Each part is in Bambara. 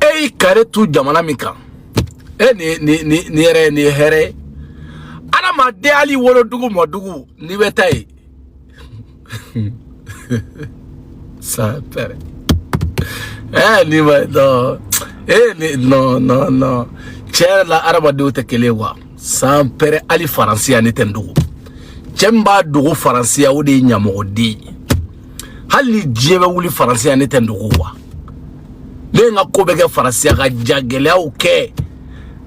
e y'i ka retour jamana min kan e ni ni ni ni yɛrɛ ni hɛrɛ ye adamaden hali wolodugu mɔdugu n'i bɛ taa yen sans père ɛ ni ma dɔn e ni nɔn nɔn nɔn tiɲɛ yɛrɛ la adamadenw tɛ kelen ye quoi sans père hali faransi yan ne tɛ n dogo cɛ min b'a dogo faransi yan o de ye ɲamɔgɔden ye hali ni diɲɛ bɛ wuli faransi yan ne tɛ n dogo wa ne ye n ka ko bɛɛ kɛ faransi yan ka jagɛlɛyaw kɛ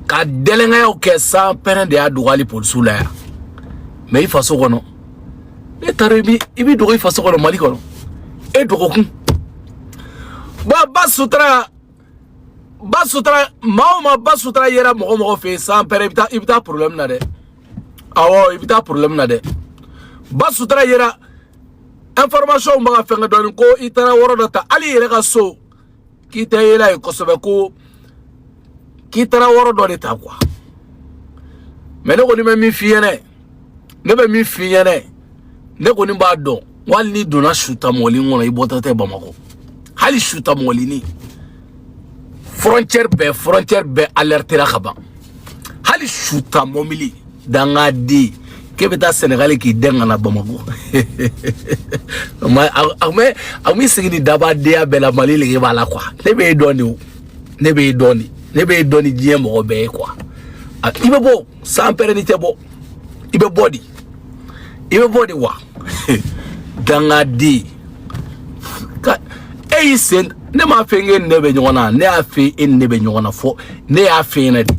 ka dɛlɛnkayaw kɛ sans père de y'a dogo hali polisiw la yan mais i faso kɔnɔ n'e taara i b'i dogo i faso kɔnɔ mali kɔnɔ e dogokun ba ba sutura ba sutura maa o maa ba sutura yera mɔgɔ mɔgɔ fɛ yen sans père i bɛ taa i bɛ taa problème na dɛ awɔ i bɛ taa problème na dɛ ba sutura yera information bɛ ka fɛnkɛ dɔɔni ko i taara yɔrɔ dɔ ta hali i yɛrɛ ka so k'i tɛ yaala yen kosɛbɛ ko k'i taara yɔrɔ dɔ de ta quoi mais ne kɔni bɛ min f'i ɲɛna ne bɛ min f'i ɲɛna ne kɔni b'a dɔn wali n'i donna sutamɔbilinin kɔnɔ i bɔtɔ tɛ bamakɔ hali sutamɔbilinin frontière bɛɛ frontière bɛɛ alertera ka ban hali su ta mɔbili dangaden k'e bɛ taa sɛnɛgali k'i dɛn ka na bamakɔ a mais sigi ni dabadenya bɛɛ la mali lege b'a la quoi ne bɛ e dɔn de o ne bɛ e dɔn de ne bɛ e dɔn ni diɲɛ mɔgɔ bɛɛ ye quoi i bɛ bɔ sans père n'i tɛ bɔ i bɛ bɔ de i bɛ bɔ de wa dangaden ka e y'i sen ne m'a fɔ k'e ni ne bɛ ɲɔgɔn na ne y'a fɔ e ni ne bɛ ɲɔgɔn na fɔ ne y'a f'e ɲɛna de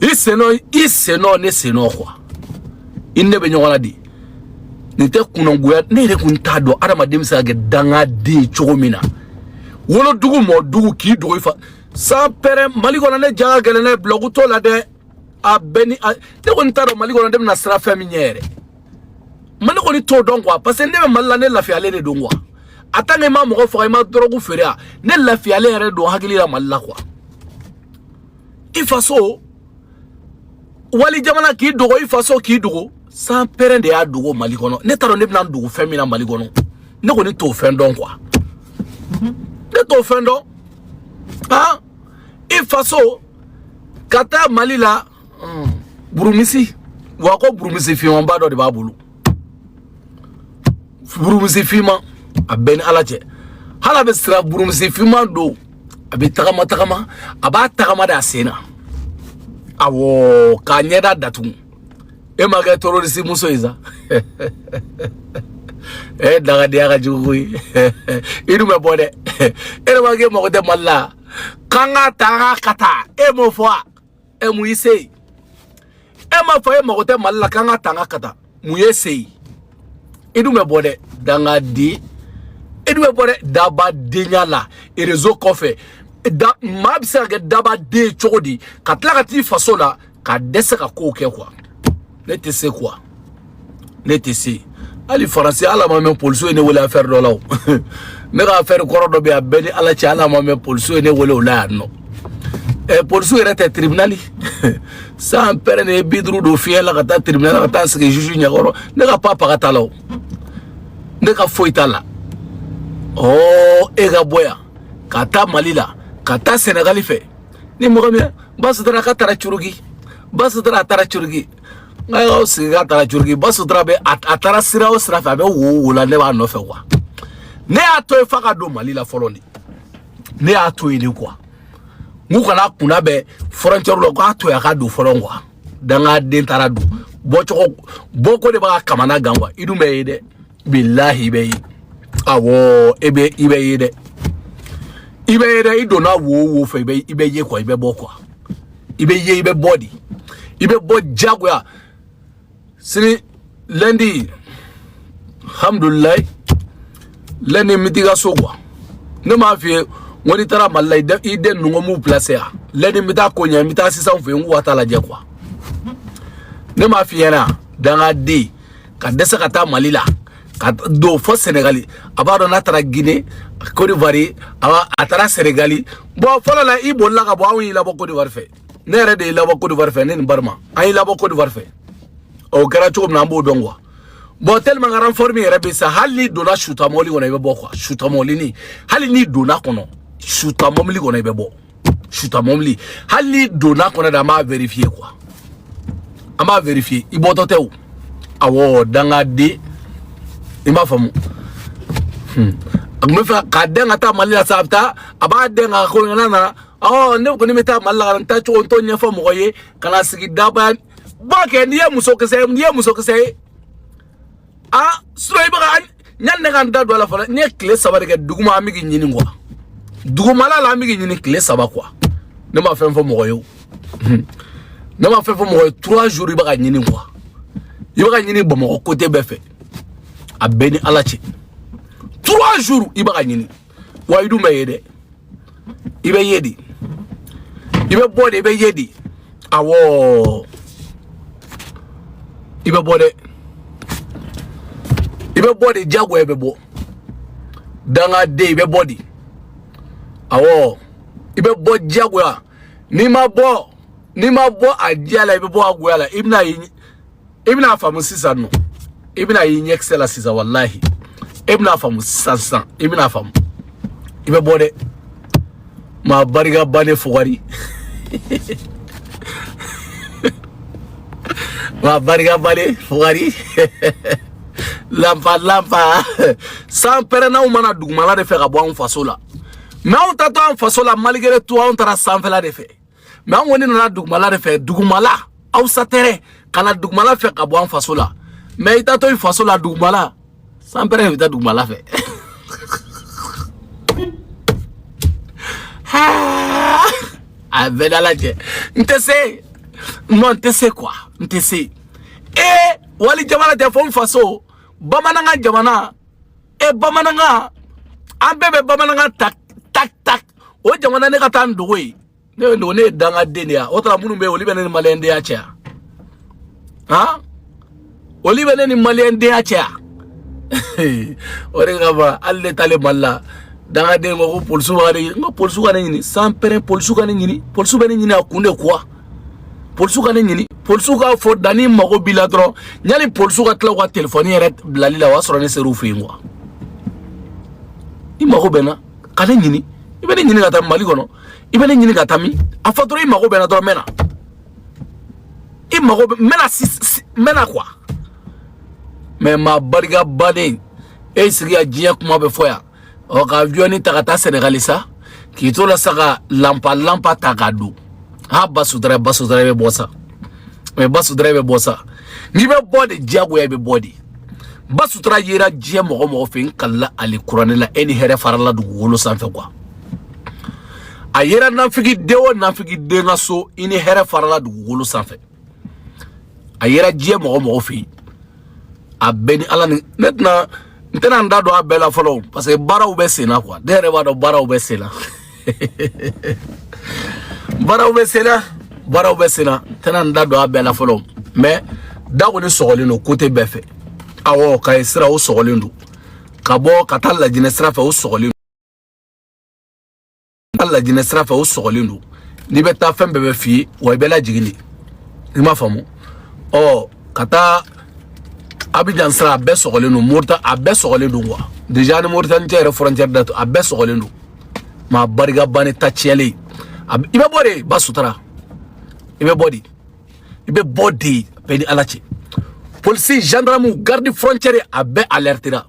i sennɔ i sennɔ ne sennɔ quoi i ni ne bɛ ɲɔgɔn na de nin tɛ kunnagoya ne yɛrɛ kun t'a dɔn adamaden bɛ se ka kɛ dangaden ye cogo min na wolodugu mɔdugu k'i dogo i fa sans père mali kɔnɔ ne ja ka gɛlɛn ne blague t'o la dɛ a bɛɛ ni ne kɔni t'a dɔn mali kɔnɔ ne bɛna siran fɛn min ɲɛ yɛrɛ ma ne kɔni t'o dɔn quoi parce que ne bɛ mali la ne lafiyalen de don quoi a tant que i ma mɔgɔ faga i ma dɔrɔgu feere a ne lafiyalen yɛrɛ don hakili la mali la quoi i faso wali jamana k'i dogo i faso k'i dogo sans père de y'a dogo mali kɔnɔ ne t'a dɔn ne bɛna dogo fɛn min na mali kɔnɔ ne kɔni t'o fɛn dɔn quoi ne t'o fɛn dɔn han i faso ka taa mali la burumisi wa ko burumisi fimanba dɔ de b'a bolo burumusi finman a bɛ n ni ala cɛ hali a bɛ siran burumusi finman don a bɛ tagama tagama a b'a tagama de a sen na awɔ k'a ɲɛda datugu e ma kɛ terorisi muso ye sa e dangadenya ka jugu koyi i dun bɛ bɔ dɛ e yɛrɛ ma k'e mago tɛ mali la k'an k'a ta an k'a ka taa e m'o fɔ wa ɛ mun y'i se yen e m'a fɔ e mago tɛ mali la k'an ka tanga ka taa mun y'e se yen i dun bɛ bɔ dɛ dangaden i dun bɛ bɔ dɛ dabadenya la erezo kɔfɛ da maa bɛ se ka kɛ dabaden cogo di ka tila ka t'i faso la ka dɛsɛ ka kow kɛ kuwa ne tɛ se kuwa ne tɛ se hali faransi ala a ma mɛɛn polisiw ye ne wele afɛri dɔ la o ne ka afɛri kɔrɔ dɔ bɛ yen a bɛ n ni ala cɛ ala a ma mɛɛn polisiw ye ne wele o la yan nɔ ɛ polisiw yɛrɛ tɛ tiribinali san pɛrɛn ne ye bi duuru don fiɲɛ la ka taa tiribinali la ka taa sigi zuzu ɲɛkɔrɔ ne ka pa paga t'a la o ne ka foyi t'a la ɔɔ e ka bɔ yan ka taa mali la ka taa sɛnɛgali fɛ ni mɔgɔ min b'a sutura k'a taara curuki b'a sutura a taara curuki nka y'aw sigi k'a taara curuki b'a sutura bɛ a a taara sira o sira fɛ a bɛ wo o wo la ne b'a nɔfɛ kuwa ne y'a to yen f'a ka don mali la fɔlɔ de ne y'a to yen de kuwa n k'u kan'a kunnabɛn fɔrɔncɛri la k'a to yen a ka don fɔlɔ kuwa dangaden taara don bɔko de b'a kamana gan kuwa i dun bɛ ye dɛ bilahi i bɛ ye awɔ e bɛ i bɛ ye dɛ i bɛ ye dɛ i donna wo o wo fɛ i bɛ i bɛ ye kuwa i bɛ bɔ kuwa i bɛ ye i bɛ bɔ de i bɛ bɔ diyagoya sini lɛndi alhamdulilayi lɛndi n bɛ t'i ka so kuwa ne m'a f'i ye n ko n'i taara mali la i den ninnu ko n b'u pilase yan lɛndi n bɛ taa ko ɲɛ n bɛ taa asisitan fɛ yen n k'u ka t'a lajɛ kuwa ne m'a f'i ɲɛna dangaden ka dɛsɛ ka taa mali la ka don fɔ sɛnɛgali a b'a dɔn n'a taara gine kodiwari a taara sɛnɛgali bɔn fɔlɔ la i bolila ka bɔ anw y'i labɔ kodiwari fɛ ne yɛrɛ de y'i labɔ kodiwari fɛ ne ni barima an y'i labɔ kodiwari fɛ o kɛra cogo min na an b'o dɔn kuwa bɔn tɛlɛman n ka ranfɔri min yɛrɛ bɛ sa hali n'i donna suta mɔbili kɔnɔ i bɛ bɔ kuwa suta mɔbilini hali n'i donna kɔnɔ suta mɔbili kɔnɔ i bɛ bɔ suta mɔbili hali n'i donna kɔnɔ dɛ an b'a vérifier quoi an b'a vérifier i bɔtɔ tɛ o awɔ dangaden i m'a faamu hmm. a tun b'a fɛ k'a dɛn ka taa mali la sa a bɛ taa a b'a dɛn ka ko ɲɛna na ɔ ne kɔni bɛ taa mali la ka na n taa cogo n t'o ɲɛfɔ mɔgɔ ye ka na sigi dabaya ba kɛ n'i ye musokisɛ ye n'i ye musokisɛ ye a sinɔn i bɛ ka Yanni ne ka n da don a la fana ne ye tile saba de kɛ duguma an bɛ k'i ɲini kuwa dugumala la an bɛ k'i ɲini tile saba kuwa ne ma fɛn fɔ mɔgɔ ye o ne ma fɛn fɔ mɔgɔ ye trois jours i bɛ ka ɲini kuwa i bɛ ka ɲini bamakɔ côté bɛɛ fɛ a bɛ n ni ala cɛ trois jours i bɛ ka ɲini wa i dun bɛ ye dɛ i bɛ ye de i bɛ bɔ de i bɛ ye de awɔ i bɛ bɔ dɛ i bɛ bɔ de diyagoya i bɛ bɔ dangaden i bɛ bɔ de awɔ i bɛ bɔ diyagoya ni n'i ma bɔ a diya la i bɛ bɔ a goya la i bɛna i bɛna a faamu sisan non i bɛna y'i ɲɛkisɛ la sisan walahi i bɛna a faamu sisan sisan i bɛna a faamu i bɛ bɔ dɛ maa barika bannen fugari maa barika bannen fugari lanpa lanpa san pɛrɛn anw ma na dugumala de fɛ ka bɔ anw faso la mɛ anw taatɔ an faso la malgré tout anw taara sanfɛla de fɛ mɛ an kɔni nana dugumala de fɛ dugumala a wusa tɛrɛ ka na dugumala fɛ ka bɔ an faso la mɛ i taatɔ i faso la dugumala san pɛrɛn i bɛ taa dugumala fɛ a bɛɛ da lajɛ n tɛ se non n tɛ se kuwa n tɛ se ee wali jamana tɛ fo n faso bamanankan jamana e bamanankan an bɛɛ bɛ bamanankan ta tak tak o jamana ne ka taa n dogo yen ne bɛ dogo ne ye dangaden de ye a o tuma minnu bɛ yen olu bɛ ne ni maliyɛndenya cɛ yan han olu bɛ ne ni maliyɛndenya cɛ yan o de kama hali ne taalen mali la dangaden ko ko polisiw ka ne ɲini n ko polisiw ka ne ɲini san pɛrɛn polisiw ka ne ɲini polisiw bɛ ne ɲini a kun de kuwa polisiw ka ne ɲini polisiw k'a fɔ dani mago b'i la dɔrɔn yanni polisiw ka tila u ka telefɔni yɛrɛ bilali la o y'a sɔrɔ ne ser'u fɛ yen kuwa i mago bɛ n na kana ne ɲini i bɛ ne ɲini ka taa mali kɔnɔ i bɛ ne ɲini ka taa min a fɔ dɔrɔn i mago bɛ n na dɔrɔn n bɛ na i mago bɛ n bɛ na si n bɛ na kuwa mɛ maa barika bannen e sigi ka diɲɛ kuma bɛɛ fɔ yan ɔ ka aviɔni ta ka taa sɛnɛgali sa k'i to la sa ka lanpa lanpa ta ka don ha ba sutura ba sutura bɛ bɔ sa mɛ ba sutura bɛ bɔ sa n'i bɛ bɔ de diyagoya i bɛ bɔ de ba sutura yera diɲɛ mɔgɔ mɔgɔ fɛ n kalila alikuranɛ la e ni hɛrɛ farala dugukolo sanfɛ kuwa a yera nafigi den o nafigi den ka so i ni hɛrɛ farala dugukolo sanfɛ a yera diɲɛ mɔgɔ mɔgɔ fɛ yen a bɛ n ni ala ni ne tɛna n tɛna n da don a bɛɛ la fɔlɔ parce que baaraw bɛ sen na quoi ne yɛrɛ b'a dɔn baaraw bɛ sen na baaraw bɛ sen na baaraw bɛ sen na n tɛna n da don a bɛɛ la fɔlɔ mais da kɔni sɔgɔlen don côté bɛɛ fɛ awɔ kayi sira o sɔgɔlen don ka bɔ ka taa lajinɛ sira fɛ o sɔgɔlen ka lajinɛ sira fɛ o sɔgɔlen don n'i bɛ taa fɛn bɛɛ bɛ f'i ye wa i bɛ lajigin de i m'a faamu ɔ ka taa abijan sira a bɛɛ sɔgɔlen don morita a bɛɛ sɔgɔlen don quoi déjà ni moritani cɛ yɛrɛ frontière da to a bɛɛ sɔgɔlen don maa barika bannen ta tiɲɛlen i bɛ bɔ de ba sutura i bɛ bɔ de i bɛ bɔ de bɛ n ni ala cɛ polisi gendarme garde frontière a bɛɛ alertera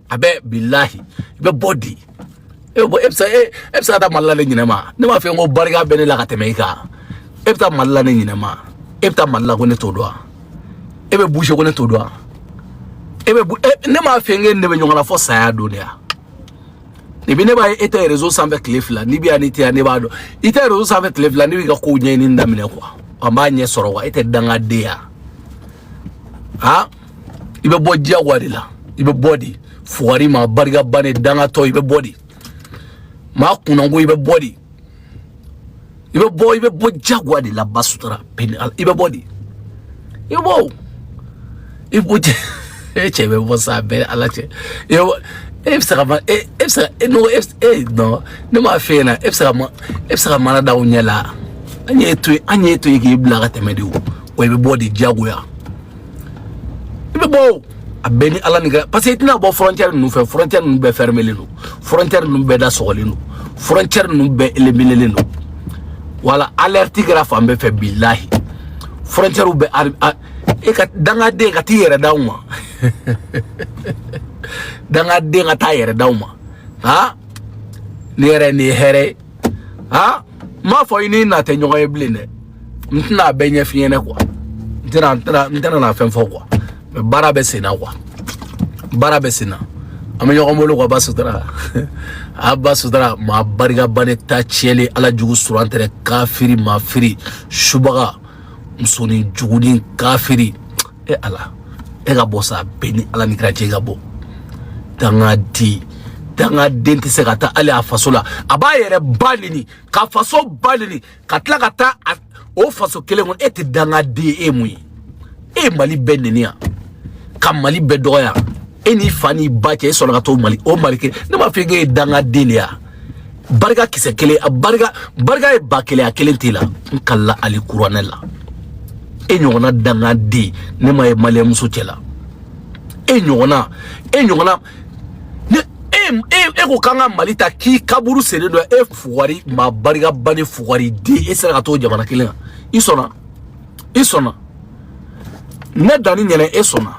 a bɛɛ bilahi i bɛ bɔ de e bɛ e bɛ se e bɛ se ka taa mali la ne ɲinɛ ma ne m'a f'e n ko barika bɛ ne la ka tɛmɛ i kan e bɛ taa mali la ne ɲinɛ ma e bɛ taa mali la ko ne t'o dɔn wa e bɛ bouger ko ne t'o dɔn wa e bɛ ne m'a f'e n k'e ne bɛ ɲɔgɔn na fo saya don de ya n'i bɛ ne b'a ye e tɛ réseau sanfɛ tile fila n'i bɛ yan n'i tɛ yan ne b'a dɔn i tɛ réseau sanfɛ tile fila ne b'i ka kow ɲɛɲini daminɛ quoi an b'a ɲɛ sɔrɔ wa e tɛ dangaden ya ha i bɛ bɔ diyagoya de la i bɛ bɔ de fugari maa barika bannen dangatɔ i bɛ bɔ de maa kunnanko i bɛ bɔ de i bɛ bɔ i bɛ bɔ jagoya de la ba sutura peli i bɛ bɔ de i bɛ bɔ o i bɛ bɔ cɛ e cɛ bɛ bɔ sa bɛ ala cɛ i bɛ bɔ e bɛ se ka ma e e bɛ se ka e n'o e e nɔ ne m'a f'e ɲɛna e bɛ se ka ma e bɛ se ka mana da u ɲɛ la an y'e to yen an y'e to yen k'i bila ka tɛmɛ de o wa i bɛ bɔ de jagoya. i bɛ bɔ o a bɛ n ni ala ni ka parce que i tɛna bɔ frontière ninnu fɛ frontière ninnu bɛɛ fermelen don frontière ninnu bɛɛ da sɔgɔlen don frontière ninnu bɛɛ éliminelen don wala alerte kɛra fan bɛɛ fɛ bilahi frontière bɛɛ a- a- e ka dangaden ka t'i yɛrɛ d'aw ma dangaden ka t'a yɛrɛ d'aw ma ha ne yɛrɛ nin ye hɛrɛ ye ha n m'a fɔ i ni na tɛ ɲɔgɔn ye bilen dɛ n tɛna a bɛɛ ɲɛf'i ɲɛna quoi n tɛna n tɛna n tɛna na fɛn fɔ quoi mais baara bɛ sen na quoi baara bɛ sen na an bɛ ɲɔgɔn bolo quoi ba sutura a ba sutura maa barika bannen ta tiɲɛlen ala jugu suran tɛrɛ kafiri maa firi subaga musonin jugunin kafiri e ala e ka bɔ sa bɛ n ni ala ni kira cɛ i ka bɔ dangaden dangaden tɛ se ka taa hali a faso la a b'a yɛrɛ ba neni ka faso ba neni ka tila ka taa o faso kelen kɔnɔ e tɛ dangaden ye e ye mun ye e ye mali bɛɛ neni yan ka mali bɛɛ dɔgɔya e n'i fa n'i ba cɛ e sɔnna ka t'o mali o mali kelen ne m'a fɔ e k'e ye dangaden de ye barika kisɛ kelen a barika barika ye ba kelen a kelen t'i la n kalila alikuranɛ la e ɲɔgɔnna dangaden ne ma ye maliyɛnmusow cɛ la e ɲɔgɔnna e ɲɔgɔnna ne e e e ko k'an ka mali ta k'i kaburu sere dɔ e fugari maa barika bannen fugari den e sera ka t'o jamana kelen kan i sɔnna i sɔnna ne danni ɲɛnɛ e sɔnna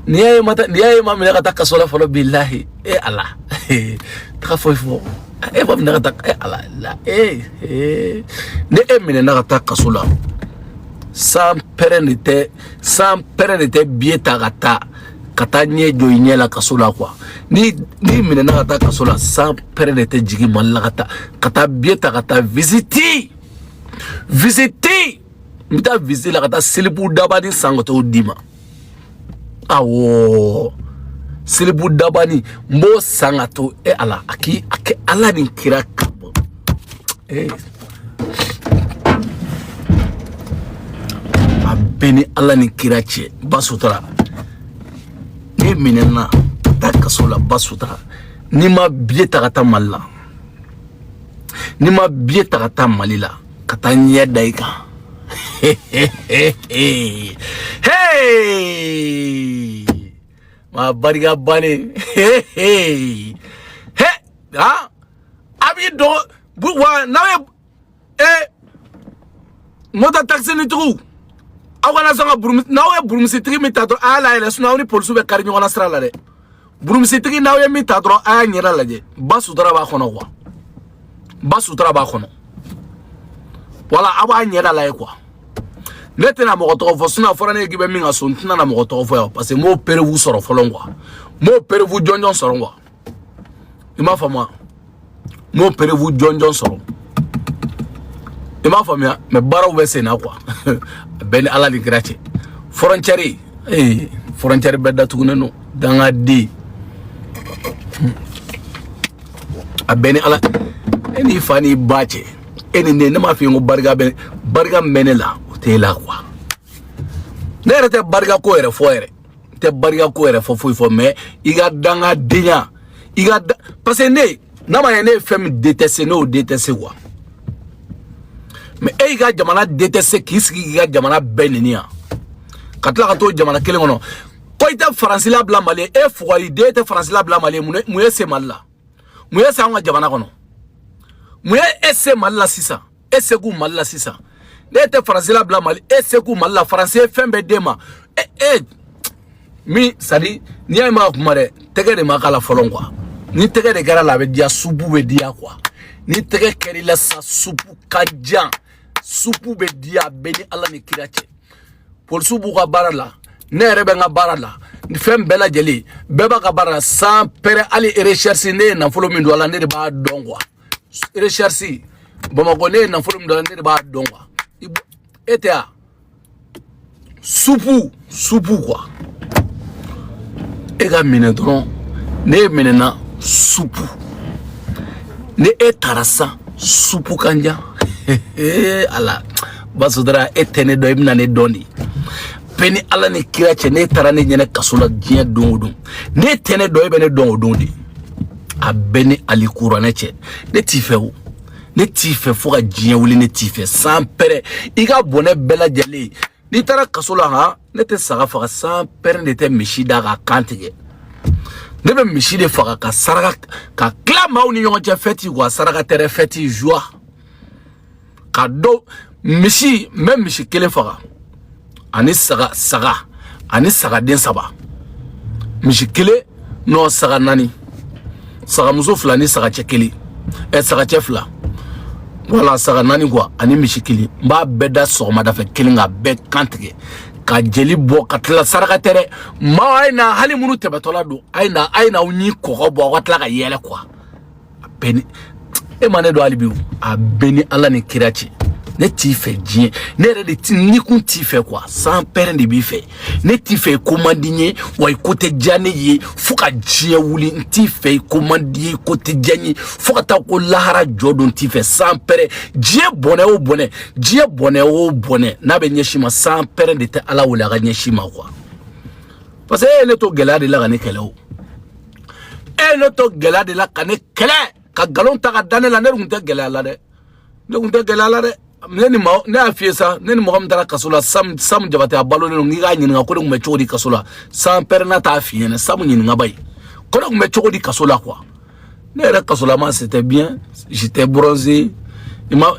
n'i y'a ye ma n'i y'a ye ma minɛ ka taa kaso la fɔlɔ bilahi e ala taga foyi fɔ e ma minɛ ka taa e ala la e e ni e minɛna ka taa kaso la sanpɛrɛn de tɛ sanpɛrɛn de tɛ biye ta ka taa ka taa ɲɛ jɔ i ɲɛ la kaso la kuwa ni n'i minɛna ka taa kaso la sanpɛrɛn de tɛ jigin mali la ka taa ka taa biye ta ka taa visiti visiti n bɛ taa visiti la ka taa silipu dabani san ka t'o d'i ma awɔ silipu dabani n b'o san ka t'o e ala a k'i a kɛ ala ni kira ka bɔ ee a b'e ni ala ni kira cɛ ba sutura n'e minɛna taa kaso la ba sutura ni n ma biye ta ka taa mali la ni n ma biye ta ka taa mali la ka taa ɲɛ da i kan maa barika bannen he a b'i dɔgɔ wa n'aw ye e moto taxinintigiw aw kana sɔn ka burumusi n'aw ye burumusitigi min ta dɔrɔn a y'a layɛlɛ sinɔn aw ni polisiw bɛ kari ɲɔgɔn na sira la dɛ burumusitigi n'aw ye min ta dɔrɔn a y'a ɲɛda lajɛ ba sutura b'a kɔnɔ kuwa ba sutura b'a kɔnɔ wala aw b'a ɲɛda lajɛ kuwa ne tɛna mɔgɔ tɔgɔ fɔ sinɔn a fɔra ne ye k'i bɛ min ka so n tɛna na mɔgɔ tɔgɔ fɔ yan parce que n m'o perewu sɔrɔ fɔlɔ kuwa n m'o perewu jɔnjɔn sɔrɔ kuwa i m'a faamuya n m'o perewu jɔnjɔn sɔrɔ i m'a faamuya mɛ baaraw bɛ sen na kuwa a b'e ni ala ni kira cɛ fɔrɔncɛri ee fɔrɔncɛri bɛɛ datugunen don dangaden a b'e ni ala e n'i fa n'i ba cɛ e ni ne ne m'a f'i ye ko barika bɛ barika min bɛ ne la o t'e la kuwa ne yɛrɛ tɛ barika ko yɛrɛ fɔ yɛrɛ n tɛ barika ko yɛrɛ fɔ foyi fɔ mɛ i ka dangadenya i ka da parce que ne n'a ma ɲɛ ne ye fɛn min déteste ne y'o déteste quoi mɛ e y'i ka jamana déteste k'i sigi k'i ka jamana bɛɛ neni yan ka tila ka t'o jamana kelen kɔnɔ ko i tɛ faransi labila mali ye e fugari den tɛ faransi labila mali ye mun y'e se mali la mun ye e se an ka jamana kɔnɔ mun ye e se mali la sisan e se k'u mali la sisan ne tɛ faransi labila mali e se k'u mali la faransi ye fɛn bɛɛ d'e ma e e mais c'est à dire n'i y'a ye ma kuma dɛ tɛgɛ de ma k'a la fɔlɔ quoi ni tɛgɛ de kɛra a la a bɛ diya supu bɛ diya quoi ni tɛgɛ kɛr'i la sa supu kanja supu bɛ diya a bɛ n ni ala ni kira cɛ polisiw b'u ka baara la ne yɛrɛ bɛ n ka baara la ni fɛn bɛɛ lajɛlen bɛɛ b'a ka baara la sans père hali recherche ne ye nafolo min don a la ne de b'a dɔn quoi recherche bamakɔ ne ye nafolo min don a la ne de b'a dɔn quoi e tɛ yan supu supu quoi e ka minɛ dɔrɔn ni e minɛna supu ni e taara sa supu kanja ala b'a sutura e tɛ ne dɔn i bɛna ne dɔn dɛ a bɛ n ni ala ni kira cɛ n'e taara ne ɲɛna kaso la diɲɛ don o don n'e tɛ ne dɔn e bɛ ne dɔn o don dɛ a bɛ n ni alikuranɛ cɛ ne t'i fɛ o ne t'i fɛ fo ka diɲɛ wuli ne t'i fɛ sans père i ka bɔnɛ bɛɛ lajɛlen n'i taara kaso la han ne tɛ saga faga sans père ne tɛ misi da k'a kan tigɛ ne bɛ misi de faga k'a saraka k'a tila maaw ni ɲɔgɔn cɛ fɛti quoi saraka tɛ dɛ fɛti joie ka dɔ misi n bɛ misi kelen faga ani saga saga ani sagaden saba misi kelen n'o saga naani sagamuso fila ni sagacɛ kelen ɛ sagacɛ fila wala saga naani quoi ani misi kelen n b'a bɛɛ da sɔgɔmada fɛ kelen k'a bɛɛ kan tigɛ ka jeli bɔ ka tila saraka tɛ dɛ maaw a ye na hali minnu tɛmɛtɔla don a ye na a ye na aw ɲin kɔgɔ bɔ aw ka tila ka yɛlɛ quoi a bɛ n ni e ma ne dɔn hali bi a bɛ n ni ala ni kira cɛ ne t'i fɛ diɲɛ ne yɛrɛ de ti ni kun t'i fɛ quoi sans père de b'i fɛ ne t'i fɛ i ko man di n ye wa i ko tɛ diya ne ye fo ka diɲɛ wuli n t'i fɛ i ko man di n ye i ko tɛ diya n ye fo ka taa ko lahara jɔ don n t'i fɛ sans père diɲɛ bɔnɛ o bɔnɛ diɲɛ bɔnɛ o bɔnɛ n'a bɛ ɲɛsin i ma sans père ne tɛ ala wele a ka ɲɛsin i ma quoi parce que e ye ne to gɛlɛya de la ka ne kɛlɛ o e ne to gɛlɛya de la ka ne kɛlɛ ka nkalon ta ka da ne la ne tun tɛ gɛlɛya la dɛ ne tun tɛ gɛlɛya la dɛ ne ni mɔgɔ ne y'a f'i ye sa ne ni mɔgɔ min taara kaso la sam sam jabate a balolen don k'i k'a ɲininka ko ne tun bɛ cogo di kaso la sans père n'a t'a f'i ɲɛna sam ɲininka ba ye ko ne tun bɛ cogo di kaso la quoi ne yɛrɛ kasolama c'était bien j'étais bronzé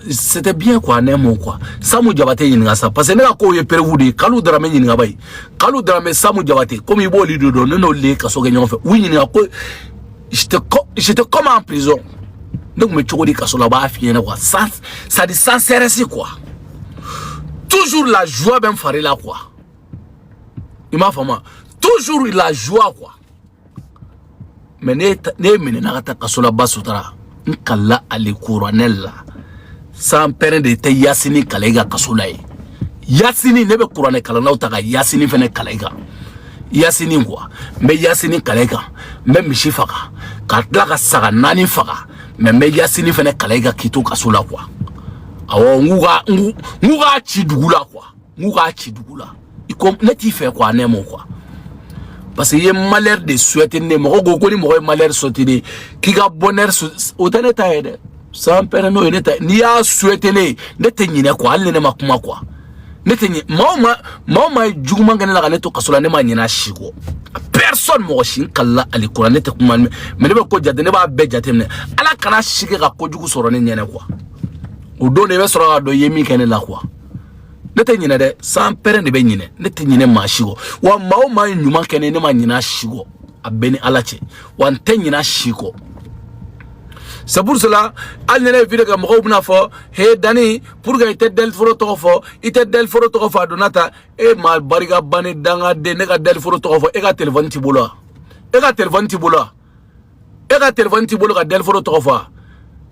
c'était bien quoi ne m'o quoi samu jabate ɲininka sa parce que ne ka kow ye preuve de ye kalu daramɛ ɲininka ba ye kalu daramɛ samu jabate komi i b'olu de dɔn ne n'olu de ye kaso kɛ ɲɔgɔn fɛ u ɲininka ko j'étais comment en prison ne tun bɛ cogo di kaso la u b'a f'i ɲɛna quoi c'est à dire sans stress quoi toujours la joie bɛ n fari la quoi i m'a faamu toujours la joie quoi mais ne minɛna ka taa kaso la basutara n kalila ali kuranɛ la sans père de tɛ yasini kalan i kan kaso la ye yasini ne bɛ kuranɛ kalannaw ta ka yasini fɛnɛ kalan i kan yasini quoi n bɛ yasini kalan i kan n bɛ misi faga ka tila ka saga naani faga mais n bɛ yasini fɛnɛ kalan i kan k'i to kaso la quoi awɔ n k'u ka n k'u k'a ci dugu la quoi n k'u k'a ci dugu la i ko ne t'i fɛ quoi ne m'o quoi parce que i ye malheur de souhaiter ne mɔgɔ ko ko ni mɔgɔ ye malheur souhaiter ne k'i ka bonheur o tɛ ne ta ye dɛ sans père n'o ye ne ta ye n'i y'a souhaiter ne ne tɛ ɲinɛ quoi hali ni ne ma kuma quoi ne tɛ ɲinɛ maa o maa maa o maa ye juguman kɛ ne la ka ne to kaso la ne ma ɲinɛ a si kɔ personne mɔgɔ si n kalila ali kuranɛ ne tɛ kuma mais ne bɛ ko jate ne b'a bɛɛ jate minɛ ala kana si kɛ ka kojugu sɔrɔ ne ɲɛnɛ quoi o don de i bɛ sɔrɔ ka dɔn i ye min kɛ ne la quoi ne tɛ ɲinɛ dɛ sans père de bɛ ɲinɛ ne tɛ ɲinɛ maa si kɔ wa maa o maa ye ɲuman kɛ ne ne ma ɲinɛ a si kɔ a bɛɛ ni ala cɛ wa n tɛ ɲinɛ a si kɔ c'est pour cela hali ni ne ye vidéo kɛ mɔgɔw bɛna fɔ he dani pourquoi i tɛ dɛliforo tɔgɔ fɔ i tɛ dɛliforo tɔgɔ fɔ a donna tan e maa barika bannen dangaden ne ka dɛliforo tɔgɔ fɔ e ka telefɔni t'i bolo wa e ka telefɔni t'i bolo wa e ka telefɔni t'i bolo ka dɛliforo tɔgɔ fɔ a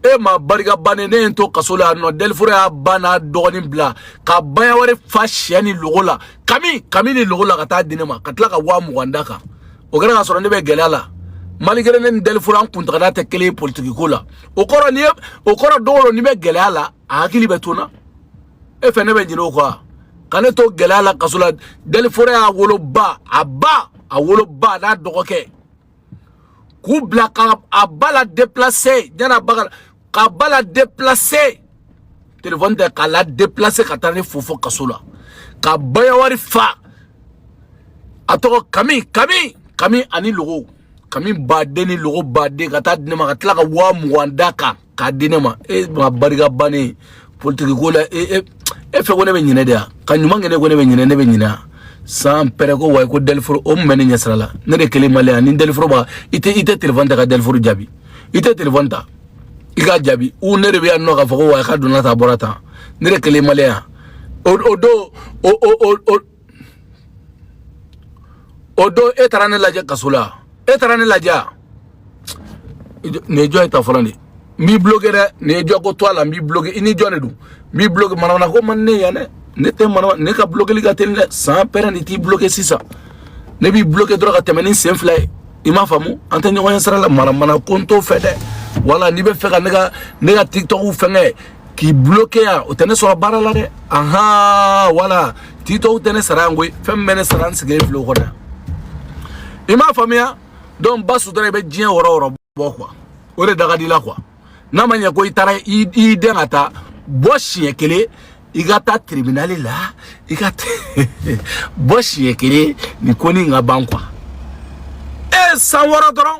e maa barika bannen ne ye n to kaso la yan nɔ dɛliforo y'a ba n'a dɔgɔnin bila ka baignoire fa siyɛ ni logo la kami kami ni logo la ka taa di ne ma ka tila ka waa mugan da kan o kɛra k'a sɔrɔ ne bɛ gɛlɛya la malgré ne ni dɛliforo an kuntagada tɛ kelen ye politiki ko la o kɔrɔ ni o kɔrɔ don o don ni n bɛ gɛlɛya la a hakili bɛ to n na e fɛ ne bɛ ɲinɛ o kɔ wa ka ne to gɛlɛya la kaso la dɛliforo y'a woloba a ba a woloba n'a dɔgɔkɛ k'u bila ka a ba la déplacer ɲana ba ka ka ba la déplacer telefɔni tɛ k'a la déplacer ka taa ne fo fo kaso la ka baignoire fa a tɔgɔ kami kami kami ani logo kami ba de ni logo ba de ka taa di ne ma ka tila ka waa mugan da kan k'a di ne ma e maa barika bannen politiki ko la e e e fɛ ko ne bɛ ɲinɛ de ya ka ɲuman kɛ ne ko ne bɛ ɲinɛ ne bɛ ɲinɛ ya sans père ko wayi ko dɛliforo o mun bɛ ne ɲɛsira la ne de kelen mali yan ni dɛliforo b'a i tɛ i tɛ telefɔni ta ka dɛliforo jaabi i tɛ telefɔni ta i k'a jaabi u ne de bɛ yan nɔ k'a fɔ ko wayi k'a donna tan a bɔra tan ne de kelen mali yan o o don o o o o don e taara ne lajɛ kaso la e taara ne lajɛ nin ye jɔn ye ta fɔlɔ de n b'i bloquer dɛ nin ye jɔ ko to a la n b'i bloquer i ni jɔn de don n b'i bloquer manamana ko man ne yan dɛ ne tɛ manamana ne ka blokeli ka teli dɛ sans père de t'i bloquer sisan ne b'i bloquer dɔrɔn ka tɛmɛ ni sen fila ye i m'a faamu an tɛ ɲɔgɔn ye sira la manamana ko n t'o fɛ dɛ wala n'i bɛ fɛ ka ne ka ne ka tiktok fɛngɛ k'i bloquer yan o tɛ ne sɔrɔ baara la dɛ ahan wala TikTok tɛ ne sara yan koyi fɛn min bɛ ne sara n sigilen filɛ o kɔnɔ yan i m'a faamuya donc ba sutura i bɛ diɲɛ wɔrɔ wɔrɔ bɔ quoi o de da ka di i la quoi n'a ma ɲɛ ko i taara i den ka taa bɔ siɲɛ kelen i ka taa tribunali la i ka bɔ siɲɛ kelen nin ko nin ka ban quoi e san wɔɔrɔ dɔrɔn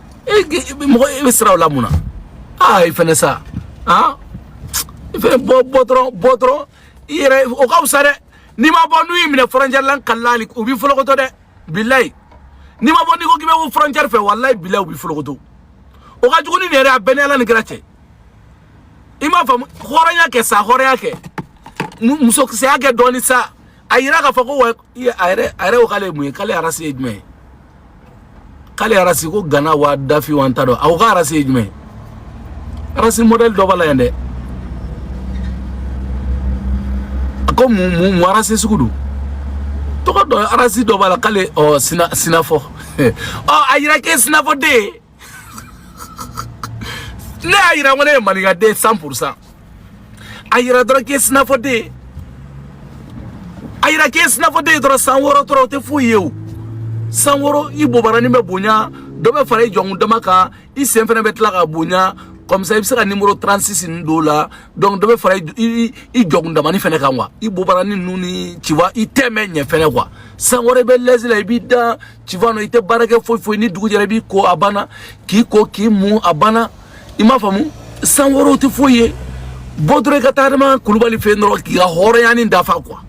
e mɔgɔ e bɛ siran o la mun na aa i fɛnɛ sa aa i fɛnɛ bɔ bɔ dɔrɔn bɔ dɔrɔn i yɛrɛ o ka fisa dɛ n'i ma bɔ n'u y'i minɛ fɔrɔncɛri la n kalilen u b'i folokoto dɛ bilayi n'i ma bɔ n'i ko k'i bɛ bɔ fɔrɔncɛri fɛ walayi bilayi u b'i folokoto o ka jugu ni nin yɛrɛ a bɛɛ ni ala ni kira cɛ i m'a faamu hɔrɔnya kɛ sa hɔrɔnya kɛ musokisɛya kɛ dɔɔni sa a yira k'a fɔ ko wa i a yɛrɛ a yɛrɛ ko k'ale ye mun ye k'ale arasi ye jumɛn ye k'ale arasi ko gana wa dafin wa n t'a dɔn a ko k'a arasi ye jumɛn ye arasi mɔdɛli dɔ b'a la yan dɛ a ko mun mun mun arasi sugu dɔ tɔgɔ don arasi dɔ b'a la k'ale ɔ sina sinafɔ ɔ a yira k'e sinafɔ den ye ne y'a yira ko ne ye maninkaden cent pour cent a yira dɔrɔn k'i ye sinafɔden ye a yira k'i ye sinafɔden ye dɔrɔn san wɔɔrɔ dɔrɔn o tɛ foyi ye o san wɔɔrɔ i bobarani bɛ bonya dɔ bɛ fara i jɔkundama kan i sen fana bɛ tila ka bonya comme ça i bɛ se ka nimoro 36 ninnu don o la donc dɔ bɛ fara i i jɔkundamani fana kan quoi i bobarani ninnu ni tu vois i teint bɛ ɲɛ fɛnɛ quoi san wɔɔrɔ i bɛ lɛzi la i b'i da tu vois non i tɛ baara kɛ foyi foyi ni dugu jɛra i b'i ko a banna k'i ko k'i mun a banna i m'a faamu san wɔɔrɔ o tɛ foyi ye bɔ dɔrɔn i ka taa adama kulubali fɛ yen dɔrɔn k'i ka hɔrɔnya nin dafa quoi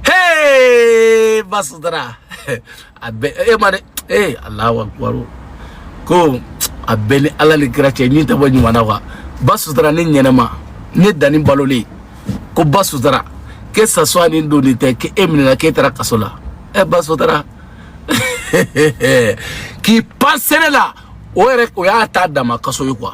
hey ba sutura a bɛ e ma dɛ ee alahu akubaru ko a bɛɛ ni ala ni kira cɛ nin tɛ bɔ ɲuman na quoi ba sutura ne ɲɛnɛma ne danni balolen ko ba sutura que ça soit nin don nin tɛ k'e minɛna k'e taara kaso la e ba sutura k'i pan sɛnɛ la o yɛrɛ o y'a ta dama kaso ye quoi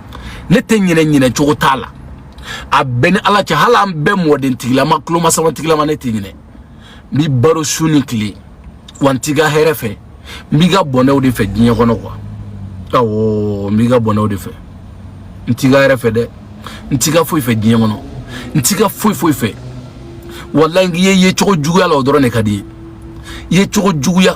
ne tɛ ɲinɛ ɲinɛ cogo t'a la a bɛɛ ni ala cɛ hali an bɛɛ mɔden tigilama tulomasama tigilama ne tɛ ɲinɛ n b'i baro su ni tile wa n t'i ka hɛrɛ fɛ n b'i ka bɔnɛw de fɛ diɲɛ kɔnɔ quoi awɔ n b'i ka bɔnɛw de fɛ n t'i ka hɛrɛ fɛ dɛ n t'i ka foyi fɛ diɲɛ kɔnɔ n t'i ka foyi foyi fɛ walayi n k'i ye yecogo juguya la o dɔrɔn de ka di n ye yecogo juguya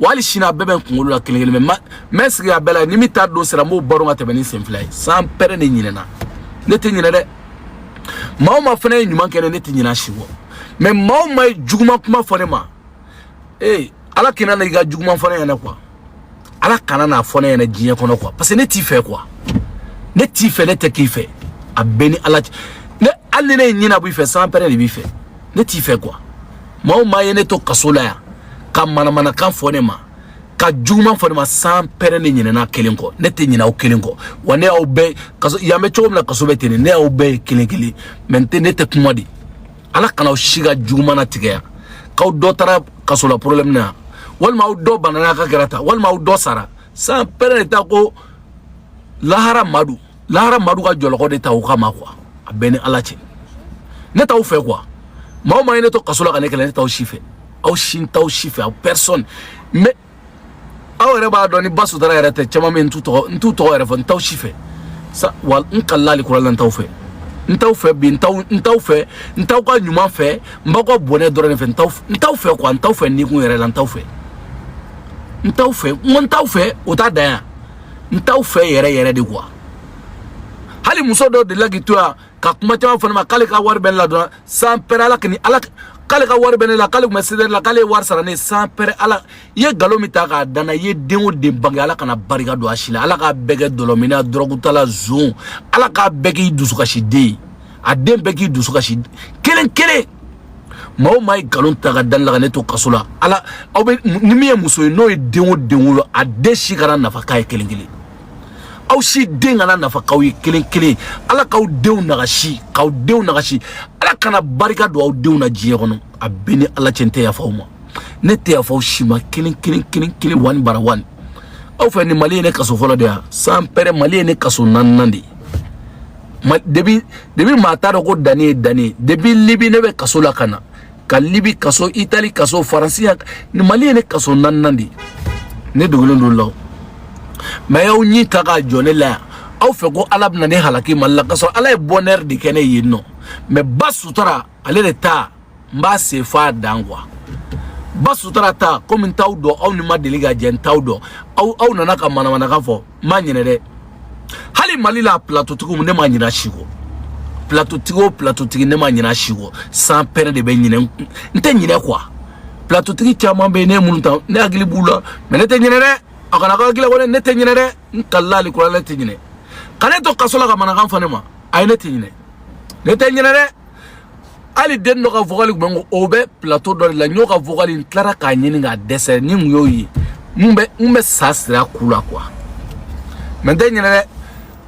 wali sini a bɛɛ bɛ n kunkolo la kelen kelen mais n bɛ sigi a bɛɛ la ni min ta don sera n b'o baro ka tɛmɛ ni sen fila ye sans père de ɲinɛna ne tɛ ɲinɛ dɛ maa o maa fana ye ɲuman kɛ ne ne tɛ ɲinɛ a si kɔ mais maa o maa ye juguman kuma fɔ ne ma ee ala kana na i ka juguman fɔ ne ɲɛna quoi ala kana n'a fɔ ne ɲɛna diɲɛ kɔnɔ quoi parce que ne t'i fɛ quoi ne t'i fɛ ne tɛ k'i fɛ a bɛɛ ni ala cɛ ne hali ni ne ye ɲinɛ b'i fɛ sans père de b'i fɛ ne t'i fɛ quoi maa o maa ye ne to kaso la yan ka manamanakan fɔ ne ma ka juguman fɔ ne ma sans père de ɲinɛna kelen kɔ ne tɛ ɲinɛ aw kelen kɔ wa ne y'aw bɛɛ kaso yan bɛ cogo min na kaso bɛ ten de ne y'aw bɛɛ ye kelen kelen mais n tɛ ne tɛ kuma de ala kana aw si ka juguman natigɛ yan k'aw dɔ taara kaso la problème na yan walima aw dɔ banana ka kɛra ta walima aw dɔ sara sans père de ta ko lahara madu lahara madu ka jɔlɔkɔ de ta o kama quoi a bɛɛ ni ala cɛ ne t'aw fɛ quoi maa o maa ye ne to kaso la ka ne kɛlɛ ne t'aw si fɛ aw si n t'aw si fɛ aw personne mais aw yɛrɛ b'a dɔn ni ba sutara yɛrɛ tɛ caman bɛ n t'u tɔgɔ n t'u tɔgɔ yɛrɛ fɔ n t'aw si fɛ sa wa n kalila alikurana n t'aw fɛ n t'aw fɛ bi n t'aw n t'aw fɛ n t'aw ka ɲuman fɛ n b'aw ka bɔnɛ dɔrɔn de fɛ n t'aw n t'aw fɛ quoi n t'aw fɛ nikun yɛrɛ la n t'aw fɛ n t'aw fɛ n ko n t'aw fɛ o t'a dan yan n t'aw fɛ yɛrɛ yɛrɛ de quoi hali muso dɔ delila k'i to yan ka kuma caman fɔ ne ma k'ale ka wari bɛ ne la dɔrɔn sans père ala kini ala k'ale ka wari bɛ ne la k'ale tun bɛ sedɛri la k'ale ye wari sara ne ye sans père ala i ye nkalon min ta k'a da n na i ye den o den bange ala kana barika don a si la ala k'a bɛɛ kɛ dɔlɔminna dɔrɔgutala zon ala k'a bɛɛ k'i dusukasiden ye a den bɛɛ k'i dusu kasi kelen kelen maa o maa ye nkalon ta k'a da ne la ka ne to kaso la ala aw bɛɛ ni min ye muso ye n'o ye den o den wolo a den si kana nafa k'a ye kelen kelen aw si den kana nafa k'aw ye kelen kelen ala k'aw denw nagasi k'aw denw nagasi ala kana barika don aw denw na diɲɛ kɔnɔ a bɛɛ ni ala cɛ n tɛ yafa aw ma ne tɛ yafa aw si ma kelen kelen kelen kelen one par one aw fɛ nin mali ye ne kaso fɔlɔ de ye sans père mali ye ne kaso naaninan de ye ma depuis depuis maa t'a dɔn ko dani ye dani ye depuis libi ne bɛ kaso la ka na ka libi kaso itali kaso faransi yan mali ye ne kaso naaninan de ye ne dogolen don la o mais y'aw ɲi ta k'a jɔ ne la yan aw fɛ ko ala bɛna ne halaki mali la k'a sɔrɔ ala ye bonheur de kɛ ne yen nɔ mais ba sutara ale de ta n b'a se f'a dan quoi ba sutara ta komi n t'aw dɔn aw ni n ma deli ka jɛ n t'aw dɔn aw aw nana ka manamanakan fɔ n ma ɲinɛ dɛ hali mali la platotigi ne ma ɲinɛ si kɔ platotigi o platotigi ne ma ɲinɛ si kɔ sans père de bɛ ɲinɛ n tɛ ɲinɛ quoi platotigi caman bɛ yen ne ye minnu ta ne hakili b'u la mais ne tɛ ɲinɛ dɛ a kana k'a hakili la walayi ne tɛ ɲinɛ dɛ n kalila alikurana ne tɛ ɲinɛ ka ne to kaso la ka manakan fɔ ne ma a ye ne tɛ ɲinɛ ne tɛ ɲinɛ dɛ hali den dɔ ka vocal kun bɛ n ko o bɛ plateau dɔ de la n y'o ka vocal n tilara k'a ɲini k'a dɛsɛ ni n kun y'o ye n bɛ n bɛ sa sira ku la quoi mais n tɛ ɲinɛ dɛ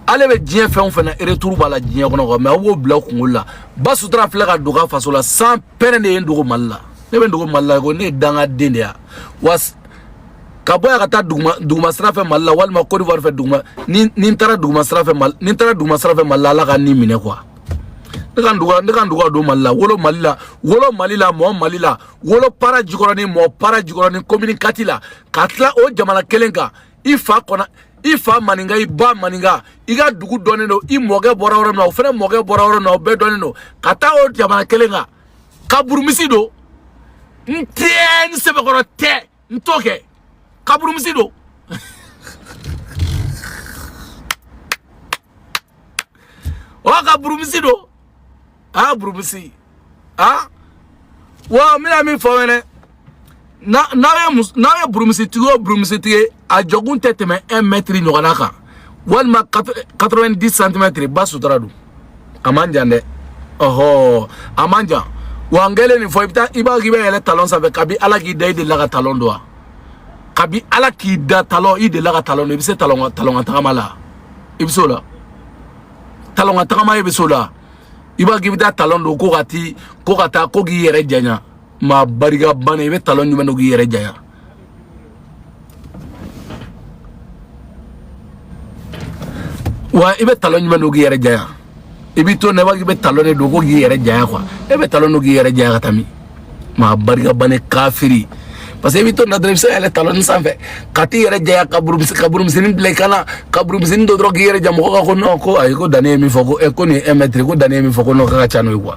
ale bɛ diɲɛ fɛn o fɛn na retour b'a la diɲɛ kɔnɔ quoi mais aw b'o bila aw kunkolo la ba sutura filɛ ka don a faso la san pɛrɛn de ye n dogo mali la ne bɛ n dogo mali la ko ne ye dangaden de ye wa ka bɔ yan ka taa duguma duguma sira fɛ mali la walima cote d'ivoire fɛ duguma ni ni n taara duguma sira fɛ mali ni n taara duguma sira fɛ mali la ala ka n ni minɛ quoi ne ka n dogo ne ka n dogo ka don mali la wolo mali la wolo mali la mɔɔ mali la wolo para jikɔrɔni mɔɔ para jikɔrɔni commune quatre la ka tila o jamana kelen kan i fa kɔnɔ i fa maninka i ba maninka i ka dugu dɔnnen don i mɔkɛ bɔra yɔrɔ min na o fana mɔkɛ bɔra yɔrɔ min na o bɛɛ dɔnnen don ka taa o jamana kelen kan ka burumusi don n tɛ n sɛbɛkɔrɔ tɛ n t'o kɛ ka burumusi don o ka burumusi don aa burumusi aa wa n bɛna min fɔ fɛnɛ n'aw ye n'aw ye burumusitigi o burumusitigi ye a jɔkun tɛ tɛmɛ un mètre ɲɔgɔnna kan walima 90 santimɛtiri ba sutura don a man jan dɛ ɔhɔ a man jan wa n kɛlen nin fɔ i bɛ taa i b'a k'i bɛ yɛlɛ talɔn sanfɛ kabi ala k'i da i delila ka talɔn don wa kabi ala k'i da talɔn i delila ka talɔn don i bɛ se talɔn talɔn ka tagama la i bɛ se o la talɔn ka tagama i bɛ se o la i b'a k'i bɛ taa talɔn don ko ka ti ko ka taa ko k'i yɛrɛ janya maa barika bannen i bɛ talon ɲuman don k'i yɛrɛ janya wa i bɛ talon ɲuman don k'i yɛrɛ janya i b'i to na i b'a k'i bɛ talon de don ko k'i yɛrɛ janya quoi e bɛ talon don k'i yɛrɛ janya ka taa min maa barika bannen kafiri parce que i bɛ to na dɔrɔn i bɛ se ka yɛlɛ talon ni sanfɛ ka t'i yɛrɛ janya ka burumusi ka burumusini bila i kan na ka burumusini don dɔrɔn k'i yɛrɛ ja mɔgɔ ka ko non ko ayi ko danni ye min fɔ ko ɛ ko nin ye un mètre ko danni ye min fɔ ko non k'a ka ca n'o ye quoi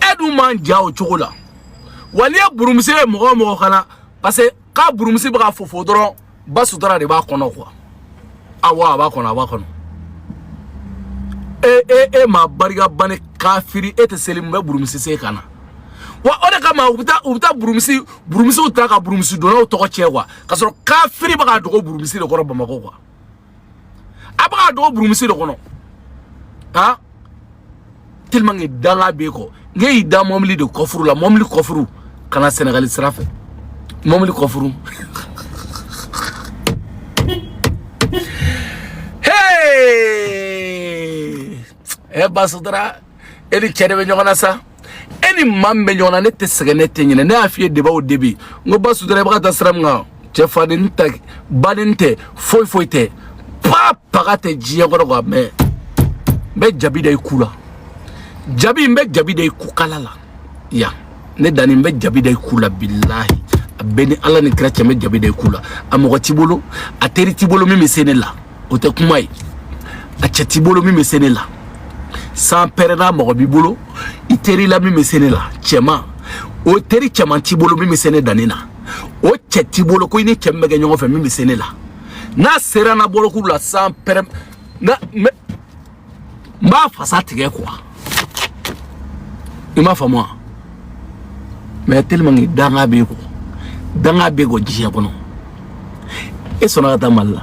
e dun man jan o cogo la wa n'i ye burumusi ye mɔgɔ o mɔgɔ kan na parce que k'a burumusi bɛ ka fofo dɔrɔn ba sutura de b'a kɔnɔ quoi awa a b'a kɔnɔ a b'a kɔnɔ e e e maa barika bannen kafiri e tɛ seli mun bɛ burumusi se i kan na wa o de kama u bɛ taa u bɛ taa burumusi burumusiw ta ka burumusi donnaw tɔgɔ cɛn quoi k'a sɔrɔ kafiri bɛ ka dogo burumusi de kɔrɔ bamakɔ quoi. a bɛ ka dogo burumusi de kɔnɔ han tellement que danga b'e kɔ ne y'i da mɔbili de kɔfuru la mɔbili kɔfuru ka na sɛnɛgali sira fɛ mɔbili kɔfuru ɛ eh, basudara e ni cɛ de bɛ ɲɔgɔn na sa e ni maa min bɛ ɲɔgɔn na ne tɛ sɛgɛn ne tɛ ɲinɛ ne y'a f'i ye debaw o debi n ko basudara i bɛ ka taa sira min kan cɛ faden tɛ baden tɛ foyi foyi tɛ pa paga tɛ diɲɛ kɔnɔ quand même n bɛ jabi da i ku la jabi n bɛ jabi da i ku kala la yan ne dani n bɛ jabi da i ku la bilahi a bɛ n ni ala ni kira cɛ n bɛ jabi da i ku la a mɔgɔ t'i bolo a teri t'i bolo min bɛ se ne la o tɛ kuma ye a cɛ t'i bolo min bɛ se ne la san pɛrɛn n na mɔgɔ b'i bolo i teri la min bɛ se ne la cɛman o teri cɛman t'i bolo min bɛ se ne dani na o cɛ t'i bolo ko i ni cɛ min bɛ kɛ ɲɔgɔn fɛ min bɛ se ne la n'a sera n na bolokuru la san pɛrɛn n na mais n b'a fasa tigɛ quoi i m'a faamu wa mais tellement que danga b'e kɔ danga b'e kɔ diɲɛ kɔnɔ e sɔnna ka taa mali la